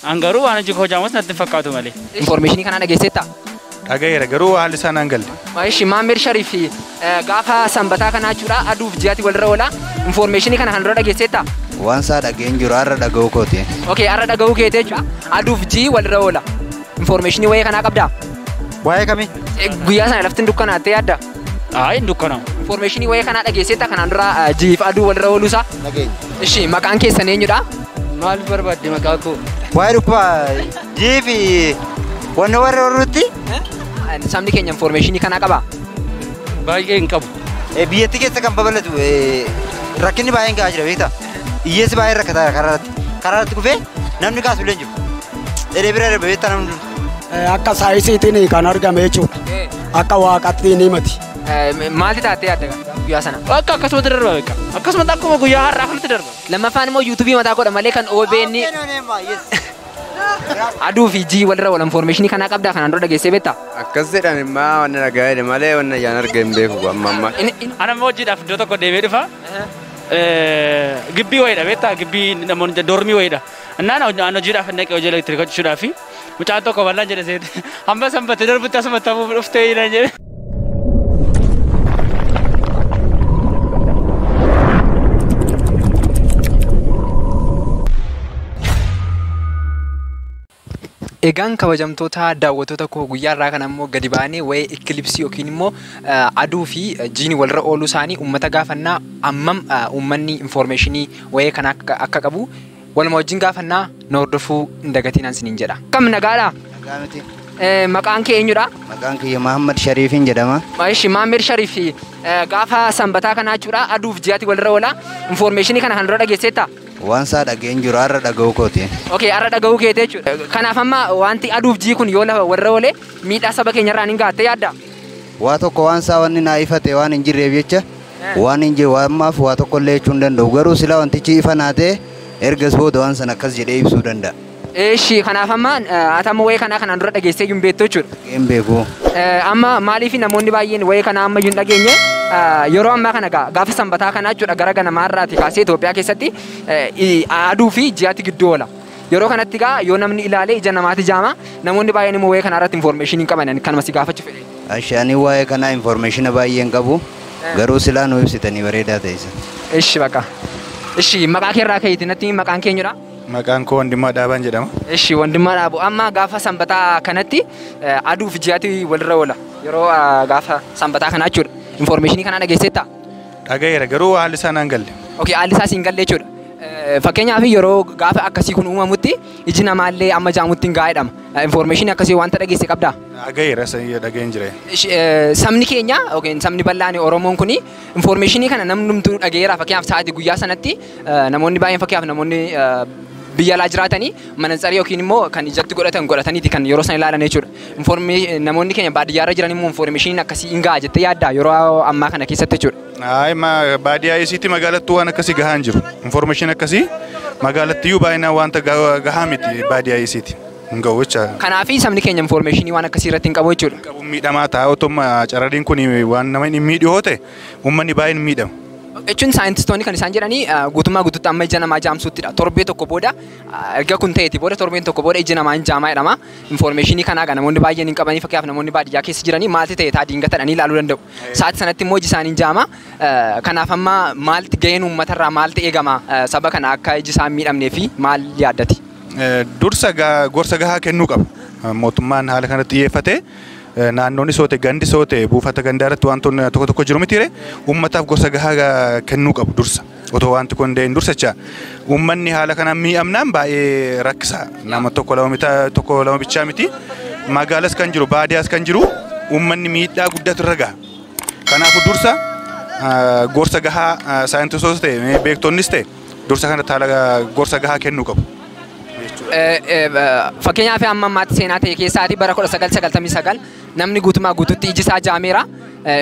An garuu waan hojii koo jaamus natti hin fakkaatu malee. Informeeshinii kanaa dhageesseettaa? Dhagayeera garuu haalli isaa naan galle. Maayishi Maammeed Shariif fi gaafa sanbataa kanaa jechuudha aduuf ji'aati walirra oola. Informeeshinii kana kan dura dhageesseettaa? Waan isaa dhageen jiru har'a dhaga'uu kooti. Okay, har'a dhaga'uu keetee jechuudha. Aduuf ji'i walirra oola. Informeeshinii wayee kanaa qabdaa? Waa'ee kamii? Guyyaa sana lafti hin dukkanaattee yaadda? Haa hin dukkanaa'u. Infoormeeshinii wayii kanaa dhageesseetta kanaan dura ah, jiif aduu walirra ooluusaa. Nageenya. Ishi maqaan keessan eenyudha? Maal barbaadde maqaa koo? Waa'ee dhukkuba jii fi wanna warra warrutti Ah, Sabni keenya infoormeeshinii kanaa qabaa? Baay'ee hin qabu. eh, biyyattii keessa kan babal'atu eh, rakkinni baay'een ga'aa jira beektaa? Hiyyeessi baay'een rakkataa jira karaa irratti. Karaa irratti kufee namni kaasu illee hin jiru. Edee bira darbe beektaa namni hunduu. Akka saayisiitiin kan argame jechuudha. Akka waaqatti ni mati. Maalti taatee adda guyyaa sana? Akka akkasumatti darba beeka. Akkasumatti akkuma guyyaa har'aa kanatti darba. Lammaffaan immoo yuutuubii mataa godha malee kan OBN aduu fi jii walirra wal infoormeeshinii kanaa qabdaa kanaan dura dhageessee beektaa? Akkas jedhan immaa wanna dhagaa'e malee wanna yaan arge hin beeku amma amma. Ana immoo hojiidhaaf iddoo tokko deemee dhufa. Gibbii wayiidha beektaa? Gibbii namoonni dormii wayiidha. Innaan hoj- an hojiidhaaf hin dhaqee hojii elektiriika hojjechuudhaaf mucaan tokko bal'aan jedhe seete hamma sanbata darbutti asuma ta'uuf dhuftee jedhan jedhe. Egaan kabajamtoota daawwattoota koo guyyaa irraa kana immoo gadi baanee waa'ee ikilipsii yookiin immoo eh, aduu fi eh, jiini walirra ooluu isaanii uummata gaafannaa ammam eh, uummanni infoormeeshinii wa'ee kana akka qabu waluma wajjin gaafannaa na hordofuu hin dagatinaan siniin jedha. Kam nagaadha? Nagaa miti. Maqaan kee eenyudha? Maqaan kiyya Mahammad Shariifiin jedhama. Ishi Maamir Shariif gaafa sanbataa kanaa jechuudha aduuf ji'aati walirra oola. Infoormeeshinii kana kan dura dhageesseetta? Waan isaa dhageen jiru har'a dhaga'uu kooti. Okay, har'a dhaga'uu keeti jechuudha. Kanaaf amma wanti aduuf jii kun yoo lafa walirra oole miidhaa saba keenyarraan hin gaatte yaadda? Waa tokko waan isaa wanni naa ifate waan hin jirreef jecha Waanin jedhu ammaaf waa tokkollee jechuu hin danda'u. Garuu silaa wantichi ifa naa ta'e ergas booda waan sana akkas jedhee ibsuu danda'a. Eeshi, kanaaf amma ati amma wa'ee kanaa kanaan dura dhageessee iyyuu hin beektu jechuudha. Dhaga'ee hin beeku. Amma maaliif namoonni baay'een wa'ee kanaa amma iyyuu hin dhageenye? Yeroo ammaa kana egaa gaafa sanbataa kanaa jechuudha gara ganamaa irraatii kaasee Itoophiyaa keessatti aduu fi ji'atu gidduu oola. Yeroo kanatti egaa yoo namni ilaale ija namaati jaama. Namoonni baay'een immoo waa'ee kanaa irratti information hin qaban. Ani kanuma si gaafachuu fedhe. Ashi ani waa'ee kanaa information baay'ee hin qabu. Garuu silaa nu ibsitanii bareedaa ta'e san. Ishi baqa. Ishi maqaa kee irraa ka'eeti natti himi maqaan kee eenyudha? Maqaan koo Wandimmaa Dhaabaan jedhama. Ishi wandimmaa dhaabu. Amma gaafa sanbataa kanatti eh, aduu fi ji'aati walirra oola. Yeroo ah, gaafa sanbataa kanaa jechuudha. Information kanaa dhageesseettaa? Dhagayeera garuu haalli isaa naan galle. Okay, haalli isaa siin galle jechuudha. Eh, Fakkeenyaaf yeroo gaafa akkasii kun uumamutti iji namaallee amma jaamutti hin gaa'edhama. Information akkasii wanta dhageesse qabdaa? Dhagayeera sanyii dhageen jira. Ish- eh, Sabni keenya yookiin sabni bal'aan Oromoon kun informationii kana namnumtuu dhageera fakkeenyaaf sa'aatii guyyaa sanatti eh, namoonni baay'een fakkeenyaaf namoonni eh, biyya alaa jiraatanii manansarii yookiin immoo kan ijatti godhatan godhataniiti kan yeroo sana ilaalan jechuudha. Informi- namoonni keenya baadiyyaa irra jiran immoo informeeshiniin akkasii hin ga'a jettee yaaddaa yeroo ammaa kana keessatti jechuudha. Ayi ma baadiyyaa isiitti magaalattuu waan akkasii gahaa hin jiru. Informeeshin akkasii magaalattiyyuu baay'inaan wanta ga- gahaa miti baadiyyaa isiitti. Hin ga'u jecha. Kanaaf sabni keenya informeeshinii waan akkasii irratti hin qabu jechuudha. Qabuun miidhamaa ta'a otuma carradiin kun waan nama hin miidhu yoo ta'e uummanni baay'een hin miidhamu. Jechuun saayintistoonni kan isaan jedhanii ah, guutummaa guutuutti amma ija namaa jaamsuuttidha. Torbee tokko booda ah, erga kun ta'eeti booda torbeen tokko booda ija namaa hin jaamaa jedhama. Infoormeeshinii kanaa egaa namoonni baay'een hin qabanii fakkeenyaaf namoonni baadiyyaa keessa jiranii maalti ta'e taa diingatadhanii ilaaluu danda'u. Sa'aatii sanatti immoo iji isaanii hin jaama. Kanaaf amma maalti gaheen uummatarraa maalti eegama saba kana akka iji isaa hin miidhamnee fi maal yaaddati? Dursa egaa gorsa gahaa kennuu qaba. Mootummaan haala kanarratti xiyyeeffatee naannoonis yoo ta'e gandis yoo ta'e buufata gandaa irratti wantoonni tokko tokko jiru mitiiree uummataaf gorsa gahaa kennuu qabu dursa. Otoo wanti kun hin dursa jecha uummanni haala kanaan miidhamnaan baay'ee rakkisaa nama tokko lama mita tokko lama bichaa miti magaalas kan jiru baadiyaas kan jiru uummanni miidhaa guddaatu irra gaha. Kanaafuu dursa ah, gorsa gahaa ah, saayintistoota ta'e beektonnis ta'e dursa kanatti haala ah, gorsa gahaa kennuu qabu. Eh, eh, ba- Fakkeenyaaf amma ammaatti seenaa ta'e keessaati bara 1999 namni guutumaa guututti iji isaa jaameera.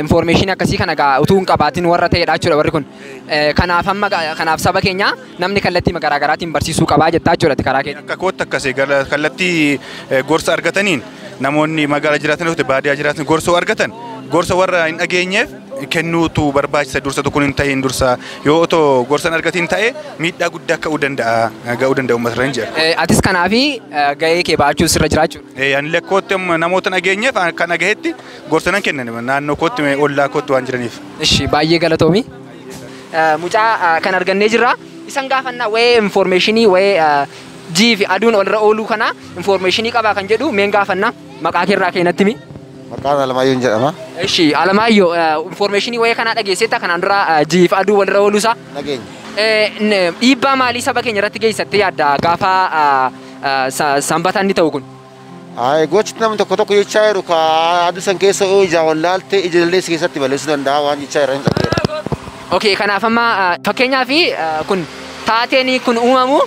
Infoormeeshinii akkasii kana egaa utuu hin qabaatiin warra ta'edha jechuudha warri kun. Kanaaf amma kanaaf saba keenya namni kallattii garaa garaatiin barsiisuu qabaa jettaa jechuudha karaa keetiin. Akka kootti akkasii kallattii gorsa argataniin namoonni magaala jiraatan yookiin baadiyyaa jiraatan gorsoo argatan gorsa warra hin dhageenyeef kennuutu barbaachisa dursa tokko hin ta'in dursa yoo otoo gorsa hin argatiin ta'e miidhaa guddaa ka'uu danda'a ga'uu danda'a uummata irra hin jira. Atis kanaafi gahee kee ba'achuun sirra jiraachuu. Ani lakkootti namoota hin dhageenyeef kan dhagahetti Gorsa nan kenna naannoo kootti mee ollaa kootti waan jiraniif. Ishi baay'ee galatoomi. Eh, Mucaa eh, kan argannee jirra. Isan gaafannaa wa'ee informeeshinii wa'ee eh, ji'i fi aduun walirra ooluu kanaa informeeshinii qabaa kan jedhu meen gaafannaa maqaa keerraa keenatti mi. Maqaan Alamaayyoon jedhama. Ishi Alamaayyoo eh, informeeshinii wa'ee kanaa dhageesseetta kanaan dura eh, ji'i fi aduu walirra ooluu isaa. Nageenya. Eh, n- Dhiibbaa maalii saba keenya irratti geessattee yaadda gaafa eh, eh, sa- sanbataan ni ta'u kun? Aye, gochi namni tokko tokko jechaa jiru ka aduu san keessa yoo ijaa wallaalte ija illee si keessatti balleessuu danda'a waan jechaa jiran dhageera. Okay, kanaaf amma ah, fakkeenyaaf ah, kun taateen kun uumamu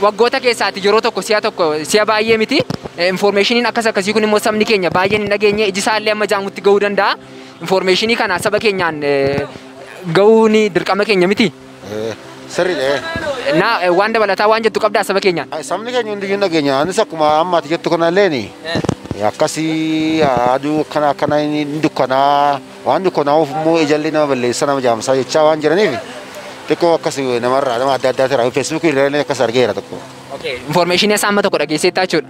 waggoota keessaati yeroo tokko si'a tokko si'a baay'ee miti. Infoormeeshiniin akkas akkasii kun immoo sabni keenya baay'een hin dhageenye iji isaa illee amma jaamutti ga'uu danda'a. Infoormeeshinii kana saba keenyaan eh, ga'uun dirqama keenya miti. Eh, Sirriidha. eh. Naa eh, waan dabalataa waan jettu qabdaa saba keenyaan. Ay, Sabni keenya hundiyyuu nageenya. Anis akkuma amma ati jettu kana illeen akkasii aduu akkana akkana hin dukkanaa waan dukkanaa'uuf immoo ijalli nama balleessa nama jaamsaa jechaa waan jiraniif xiqqoo akkas namarraa nama adda addaa irraa feesbuukii irraa akkas argeera tokko. Okay. Information isaa amma tokko dhageesseettaa jechuudha.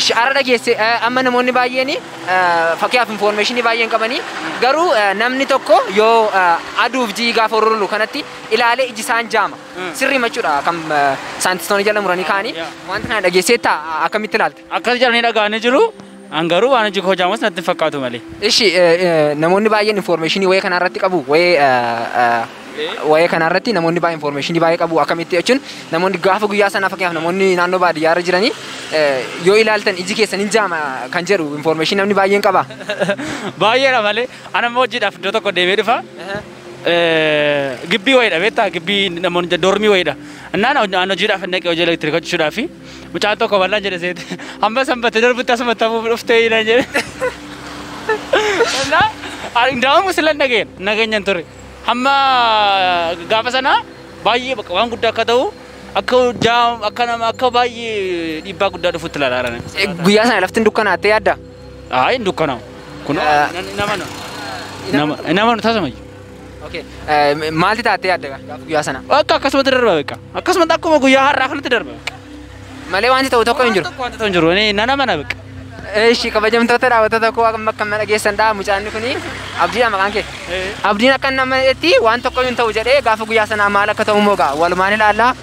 Ishi ara dhageesse eh, amma namoonni baay'een eh, fakkiyaaf infoormeeshinii baay'een qabanii garuu eh, namni tokko yoo eh, aduuf ji'i gaafa ururulu kanatti ilaalee iji isaan jaama sirrii machuudha kan eh, saayintistoonni jala muranii kaanii yeah. wanti kana dhageesseetta a- akkamitti ilaalta? Akkas jedhanii dhaga'anii jiru. An garuu waan hojii koo jaamas natti hin fakkaatu malee. Ishi eh, eh, namoonni baay'een infoormeeshinii wayee kanarratti qabu wayee eh, eh, Waa'ee kanaa irratti namoonni baay'ee infoormeeshinii baay'ee qabu akkamitti jechuun namoonni gaafa guyyaa sanaa fakkeenyaaf namoonni naannoo baadiyyaa irra jiranii eh, yoo ilaaltan iji keessan hin jaama kan jedhu infoormeeshinii namni baay'een qaba. Baay'eedha malee. Ana immoo hojiidhaaf iddoo tokko deemee dhufa. Eh, Gibbii wayiidha beektaa? Gibbii namoonni jedhu doormii wayiidha. Innaan hoj- an hojiidhaaf hin dhaqee hojii elektiriika hojjechuudhaaf fi mucaan tokko bal'aan jedhe seete hamma sanbata darbutti asuma ta'uuf dhuftee hin jedhe. Innaan ani daa'imuu sila hin dhageenye nageenya hin ture. Hamma gaafa sana baay'ee bakka waan guddaa akka ta'u akka hojjaa akka nama akka baay'ee dhiibbaa guddaa dhufutti ilaalaa Eh, Guyyaa sana laftin dukkanaattee yaadda? Ayi hin dukkanaa'u. Kun Ah. nama nama nama taasifamayyu. Okay. Eh, Maalti taattee yaadda gaafa guyyaa sana? Akka akkasumatti darba beeka. Akkasumatti akkuma guyyaa har'aa kanatti darba. Malee wanti ta'u tokko hin jiru. Tokko wanti ta'u hin jiru. Ni nana mana bakka. Eeshi kabajamtoota daawwattoota koo amma akka mana geessan dha mucaanni kuni abdiidha maqaan kee. Abdiin akka nama itti waan tokko hin ta'u jedhee gaafa guyyaa sanaa maal akka ta'u immoo gaa walumaan ilaalla.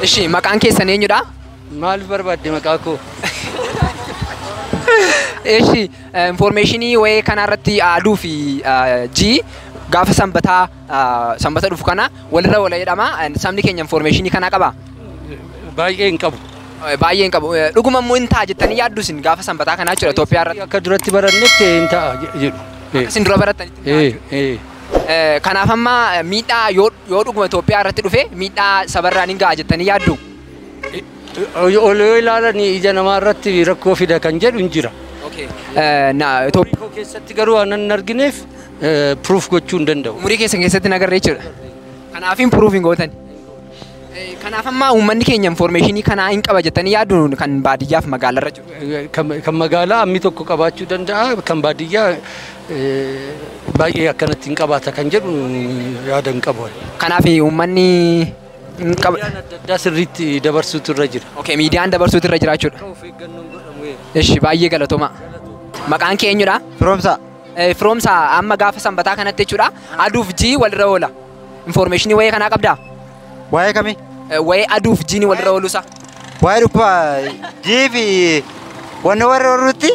Ishi maqaan keessan eenyudha? Maal barbaadde maqaa koo? Ishi informeeshinii wayee kanarratti aduu fi jii gaafa sanbataa Sanbata dhufu kana walirra wala jedhama. Sabni keenya infoormeeshinii kanaa qabaa? Baay'ee hin qabu. Baay'ee hin qabu. Dhuguma immoo hin ta'a jettanii yaaddu isin gaafa sanbataa kanaa jechuudha Itoophiyaa irratti. Akka duratti barannetti hin ta'a jedhu. Isin dura barattanitti. Kanaaf amma miidhaa yoo dhuguma Itoophiyaa irratti dhufe miidhaa sabarraan hin ga'a jettanii yaaddu? Ol yoo ilaalan ija namaa irratti rakkoo fida kan jedhu hin jira. Itoophiyaa keessatti garuu waan hin argineef proof gochuu hin danda'u. Umurii keessan keessatti hin agarre jechuudha. Kanaafin proof hin gootan. Eh, Kanaaf amma uummanni keenya informeeshinii kanaa hin qaba jettanii yaaduun kan baadiyyaaf magaalarra jiru. Eh, Kan kan magaalaa ammi tokko qabaachuu danda'a kan baadiyyaa eh, baay'ee akkanatti hin qabaata kan jedhu yaada hin qabu. Kanaaf uummanni hin qaba. Miidiyaan adda addaa sirriitti dabarsuutu irra jira. Okay, miidiyaan dabarsuutu irra jira jechuudha. Of eeggannoon godhamu. Ishi baay'ee galatoomaa. Maqaan kee eenyudha? Firoomsaa. Eh, Firoomsa amma gaafa sanbataa kanatti jechuudha. Aduuf jii walirra oola. Infoormeeshinii wayii kanaa qabdaa? Waa'ee kamii? Eh, Wayii aduuf jiini walirra ooluusaa. Waa'ee dhukkuba jii fi wanni warra warruutti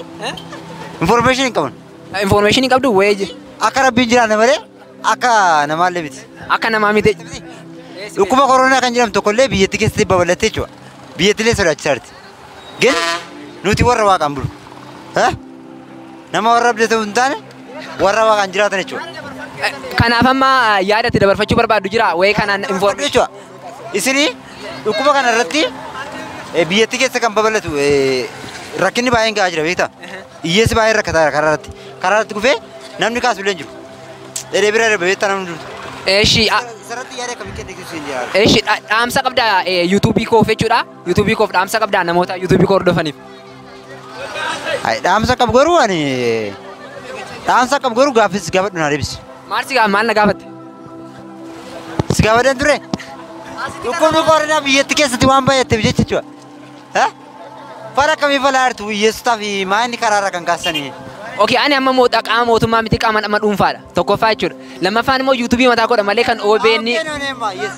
information hin qaban. Eh, Infoormeeshinii qabdu wayii jii. Akka rabbiin jiraanne malee akka namaallee miti. Akka namaa miti. Dhukkuba koronaa kan jedhamu tokkollee biyyatti keessatti babal'attee jechuudha. Biyyattilee sodaachisaarti. Gin nuti warra waaqaan bulu. Eh? Nama warra abdii ta'u hin taane warra waaqaan jiraatan jechuudha. Kanaaf amma ah, yaada itti dabarfachuu barbaaddu jira wayee kanaan Warra information. jechuudha. Isinii dhukkuba kana irratti eh, biyyattii keessa kan babal'atu eh, rakkinni baay'een ga'aa jira beektaa? Hiyyeessi baay'een rakkataa jira karaa irratti. Karaa irratti kufee namni kaasu illee hin jiru. Dheedee bira darbe beektaa namni jiru. Eshi Isarratti yaada akkamii kennitu siin jira. eshi dhaamsa qabda eh, yuutuubii koof jechuudha. Yuutuubii koof dhaamsa qabdaa namoota yuutuubii koo hordofaniif. Ay, dhaamsa qabu garuu ani dhaamsa qabu garuu gaaffii si gaafadhu na deebisi. Maal si gaa- maal na gaafatte? Si gaafadhan ture? Dhukkubni koronaa biyyatti keessatti waan baay'atteef jecha jechuudha. Eh? Fara akkamii falaa jirtu hiyyeessotaa fi maayinni karaarra kan kaasanii. Okay, ani amma moota qaama mootummaa miti qaama nama dhuunfaadha. Tokkoffaa jechuudha. Lammaffaan immoo yuutuubii mataa koodha malee kan OBN Hawween oneemma, yes.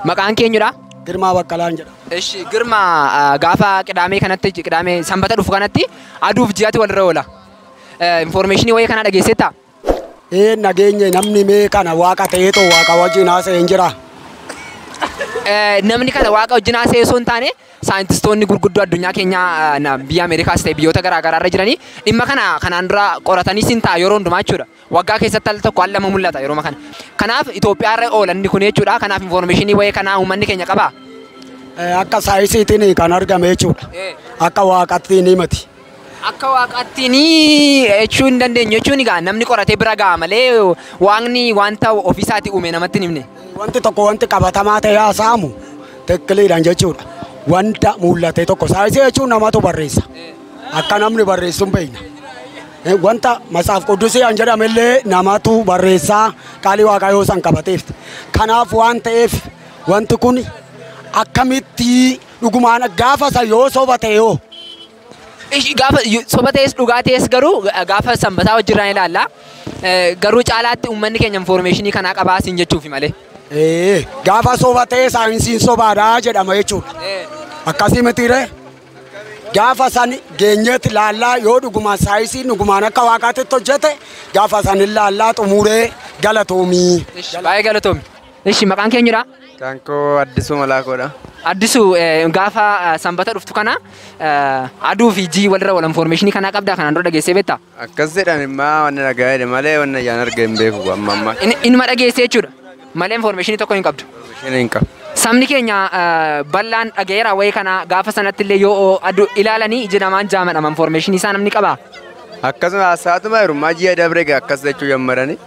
Maqaan keenyudha. Girmaa Baqqalaan jedha. Eshi girma ah, gaafa qidaamee kanatti qidaamee sanbata dhufu kanatti aduuf ji'aatti walirra oola. Infoormeeshinii wayii kanaa dhageesseetta? Ee nageenye namni mee kana waaqa ta'eetoo waaqa wajjin haasa'een jira. Eh, Namni kana waaqa wajjin haasa'ee osoo hin taane saayintistoonni gurguddoo addunyaa keenya biyya Ameerikaas ta'e biyyoota garaa garaa irra jiranii dhimma kana kanaan dura qoratanii siin ta'a yeroo hundumaa jechuudha. Waggaa keessatti al tokko al lama mul'ata yeroo kana. Kanaaf Itoophiyaa irra oola inni kun jechuudha. Kanaaf infoormeeshinii wayii kanaa uummanni keenya qabaa? Akka saayisiitiin kan argame jechuudha. Akka waaqattiin himati. akka waaqaatti ni jechuu hin dandeenyu jechuun egaa namni qoratee bira ga'a malee waaqni wanta ofiisaati uume namatti hin himne. Wanti tokko wanti qabatamaa ta'e haasa'amu tikkiliidhaan jechuudha. Wanta mul'ate tokko saayinsii jechuun namatu barreessa. Akka namni barreessu hin beekna. Eh, Wanta masaaf quddusiyaan jedhamellee namatu barreessaa qaalii waaqayyoo san qabateef. Kanaaf waan ta'eef wanti kun akkamitti Dhugumaan gaafa sa yoo soba ta'e hoo? Ish- gaafa yu- soba ta'es dhugaa ta'es garuu ga- gaafa sanbataa wajjirraan ilaalla Eh, garuu caalaatti uummanni keenya infoormeeshinii kanaa qabaa siin jechuufi malee Ee, gaafa soba ta'e saayinsiin sobaadha jedhama jechuudha. Akkasii mitiiree? Gaafa san geenyeetti laallaa yoo dhugumaan saayinsiin dhugumaan akka waaqaatti hojjete gaafa san hin laallaa xumuree galatoomii. Ish, baay'ee galatoomi Ishi maqaan kee eenyudha? Kan koo Addisuu Malaakoodha. Addisu eh, gaafa eh, sanbata dhuftu kana eh, aduu fi jii walirra wal informeeshinii kanaa qabdaa kanaan dura dhageessee beektaa? Akkas jedhan immaa wanni nagaa jedhe malee wanni ayyaan arge hin beeku amma amma. In- Inuma dhageessee jechuudha. Malee informeeshinii tokko hin qabdu. Isheen hin qabu. Sabni keenya eh, bal'aan dhagayeera wayii kana gaafa sanatti illee yoo aduu ilaalanii ija namaan jaamadhama informeeshinii isaa namni qabaa? Akkasuma haasaatuma hirummaa ji'a dabre egaa akkas jechuu jammarani.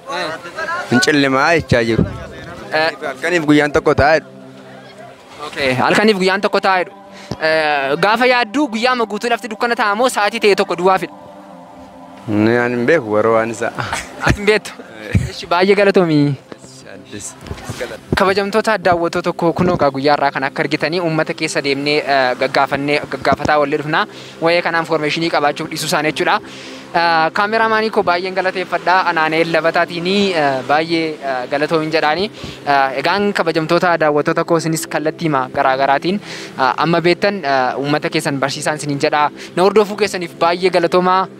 Hin cillimaa jechaa jiru. Eh. Halkaniif guyyaan tokko taa'e. Okay. Halkaniif guyyaan tokko taa'edha. Eh, Gaafa yaadduu guyyaama guutuu lafti dukkana ta'a moo sa'aatii ta'e tokko duwwaafidha? Ani hin beeku warra waan isaa. Ati hin beektu. Ishi baay'ee galatoomii. Kabajamtoota daawwattoota koo kunoo egaa guyyaa irraa kan akka argitanii uummata keessa deemnee gaggaafannee gaggaafataa wallee dhufna. Wa'ee kanaa infoormeeshinii qabaachuuf dhiisuu isaanii jechuudha. Kaameraa maanii koo baay'een galateeffadha. Anaaneel Labataatiin baay'ee galatoomin jedhaani. Egaan kabajamtoota daawwattoota koo isinis kallattiima garaa garaatiin amma beektan uummata keessan barsiisaan isiniin jedha. Na hordofuu keessaniif baay'ee galatoomaa.